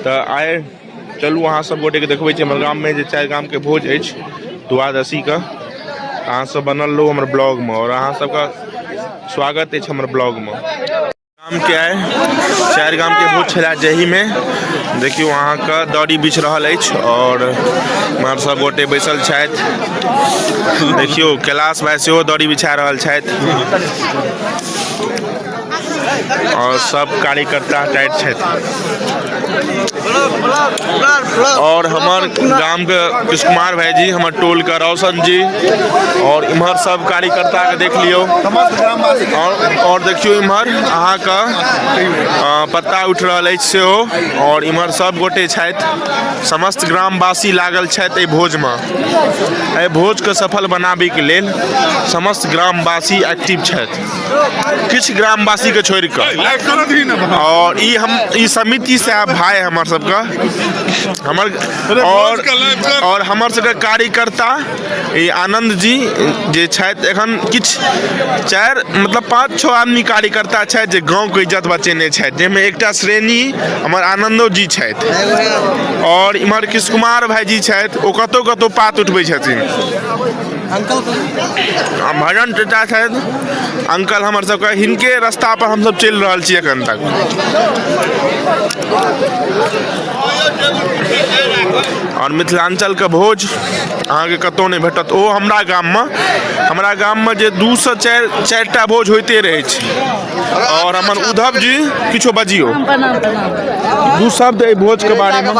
तऽ आइ चलू अहाँ सब गोटेके देखबै छी हमर गाममे जे चारि गामके भोज अछि द्वादशीके अहाँसभ बनल रहू हमर ब्लॉगमे आओर अहाँ सबके स्वागत अछि हमर ब्लॉगमे गामके आइ चारि गामके भोज छलए जाहिमे देखियौ अहाँके दड़ी बिछ रहल अछि आओर हमर सब गोटे बैसल छथि देखियौ कैलाश भाइ सेहो दड़ी बिछा रहल छथि आओर सब कार्यकर्ता टाइट छथि आओर हमर गामके कृष्ण कुमार भाईजी हमर टोलके रोशन जी आओर इम्हर सब कार्यकर्ताके देख लियौ आओर आओर देखियौ इम्हर अहाँके अँ, पत्ता उठि रहल अछि सेहो आओर इम्हर सब गोटे छथि समस्त ग्रामवासी लागल छथि एहि भोजमे एहि भोजके सफल बनाबैके लेल समस्त ग्रामवासी एक्टिव छथि किछु ग्रामवासी के छोड़ि कऽ आओर ई हम ई समिति से आब भाय हमर सबके हमर आओर आओर हमर सबके कार्यकर्ता ई आनन्द जी जे छथि एखन किछु चारि मतलब पाँच छओ आदमी कार्यकर्ता छथि जे गाँवके इज्जत बचेने छथि जाहिमे एकटा श्रेणी हमर आनन्दो जी छथि आओर इम्हर कृष्ण कुमार भाइजी छथि ओ कतहु कतहु पात उठबै छथिन अंकल भजन चचा छथि अंकल हमर सबके हिनके रास्ता पर हमसब चलि रहल छी एखन तक आओर मिथिलाञ्चलके भोज अहाँके कतहु नहि भेटत ओ हमरा गाममे हमरा गाममे जे दू सए चारि चारिटा भोज होइते रहै छै आओर हमर उद्धव जी किछो बजियो दू शब्द एहि भोजके बारेमे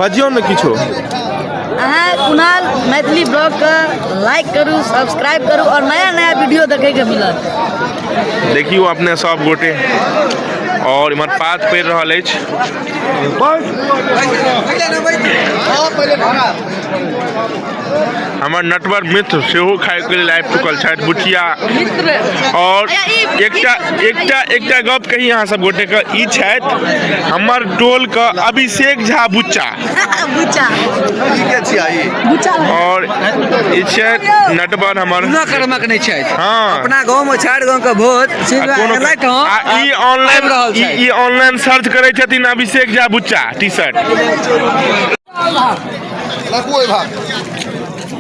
बजियौ ने किछो अहाँ कुणाल मैथिली ब्लॉगके लाइक करू सब्सक्राइब करू आओर नया नया वीडियो देखैके मिलत देखियौ अपने सब गोटे और इमर पात पड़ रहा है हमारे नटवर मित्र से खाए के लिए आबि चुकल छथि बुचिया और एक गप कही अहाँ सब गोटे के ई छथि हमर टोल के अभिषेक झा बुच्चा और ई छै नटवर हमर कोनो कर्मक नहि छै हाँ। अपना गांव में चार गांव के भोज सीधा कोनो एलैथ हँ आ ई आबि रहल ऑनलाइन ई छै ई ऑनलाइन सर्च करै छथिन अभिषेक झा बुच्चा टी शर्ट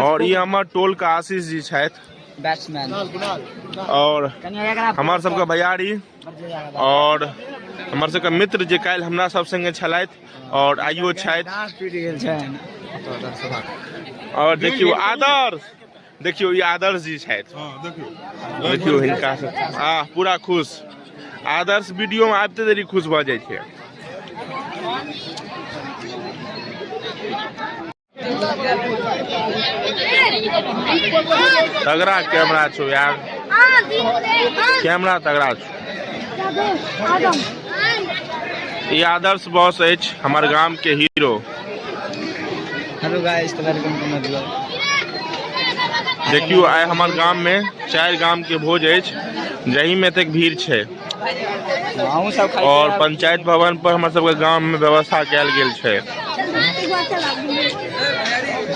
और ये हमारे टोल का आशीष जी शायद बैट्समैन और हमार सबके भैयारी और हमार सबके मित्र जे कल हमरा सब संगे छलैत और आइयो छथि और देखियो आदर्श देखियौ ई आदर्श जी छथि हँ देखियौ देखियौ हिनका से आ पूरा खुश आदर्श वीडियो में आबिते देरी खुश भऽ जाइ छै तगड़ा कैमरा छौ यार कैमरा तगड़ा छौ ई आदर्श बॉस अछि हमर गाम के हीरो हेलो गाइस तो वेलकम टू माय ब्लॉग देखियो आइ हमर गाम में चार गाम के भोज है जही में तक भीड़ है अहूँ सब खाइ और पंचायत भवन पर हमर सब गाम में व्यवस्था कल गया है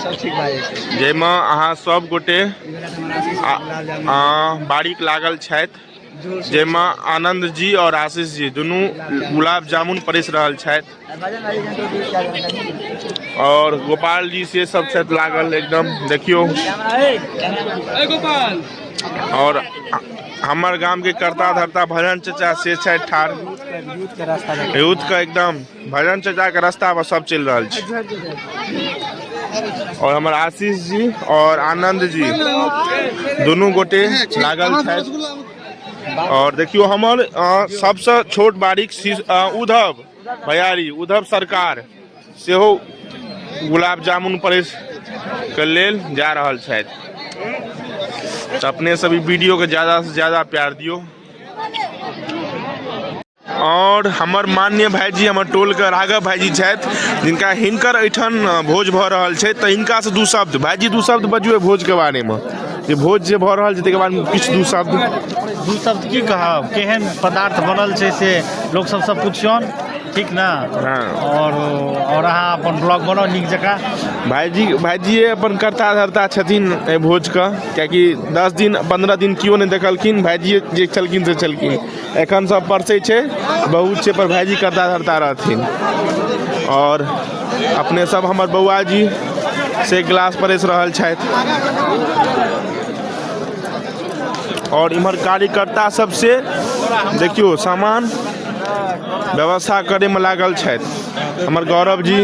सब ठीक भाई जाहिमे अहाँ सब गोटे बारीक लागल छथि जाहिमे आनन्द जी आओर आशीष जी दुनू गुलाब जामुन परसि रहल छथि आओर गोपाल जी से सब छथि लागल एकदम देखियौ आओर हमर गामके करता धरता भजन चचा से छथि ठाढ़ यूथके एकदम भजन चचा के रास्ता पर सब चल रहल छै और हमर आशीष जी और आनंद जी दुनू गोटे लागल छथि और देखियो हमर अ, सबसँ छोट बारीक शिश- अ, उद्धव भैयारी उद्धव सरकार सेहो गुलाब जामुन परेश के लेल जा रहल छथि तऽ अपने सब ई वीडियो के ज्यादा से ज्यादा प्यार दियो आओर हमर मान्य भाइजी हमर टोलके राघव भाइजी छथि जिनका हिनकर एहिठाम भोज भऽ रहल छै तऽ हिनकासँ दू शब्द भाइजी दू शब्द बजियौ भोजके बारेमे जे भोज जे भऽ रहल छै ताहिके बारेमे किछु दू शब्द दू शब्द की कहब केहन पदार्थ बनल छै से लोक सबसँ पुछियौन ठीक ने हँ। आओर आओर अहाँ अपन ब्लॉग बनाउ नीक जकाँ भाइजी भाइजिए अपन कर्ता धर्ता छथिन एहि भोजके किएकि दस दिन पन्द्रह दिन केओ नहि देखलखिन भाइजिए जे छलखिन से छलखिन एखन सब परसै छै बहुत छै पर भाईजी करता धरता रहथिन आओर अपने सब हमर बौआ जी से ग्लास परसि रहल छथि आओर इम्हर कार्यकर्ता सब से देखियौ सामान व्यवस्था करैमे लागल छथि हमर गौरव जी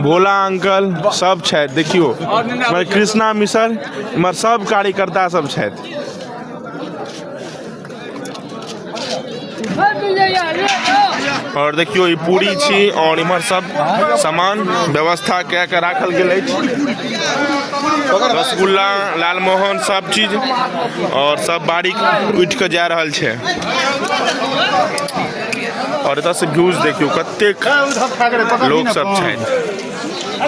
भोला अंकल सब छथि देखियौ हमर कृष्णा मिसर इम्हर सब कार्यकर्ता सब छथि और देखियो ई पूरी छी और इम्हर सब सामान व्यवस्था कए के राखल गेल अछि रसगुल्ला लालमोहन सब चीज और सब बारीक उठि के जा रहल छै और एतऽ से व्यूज देखियो कतेक लोक सब छथि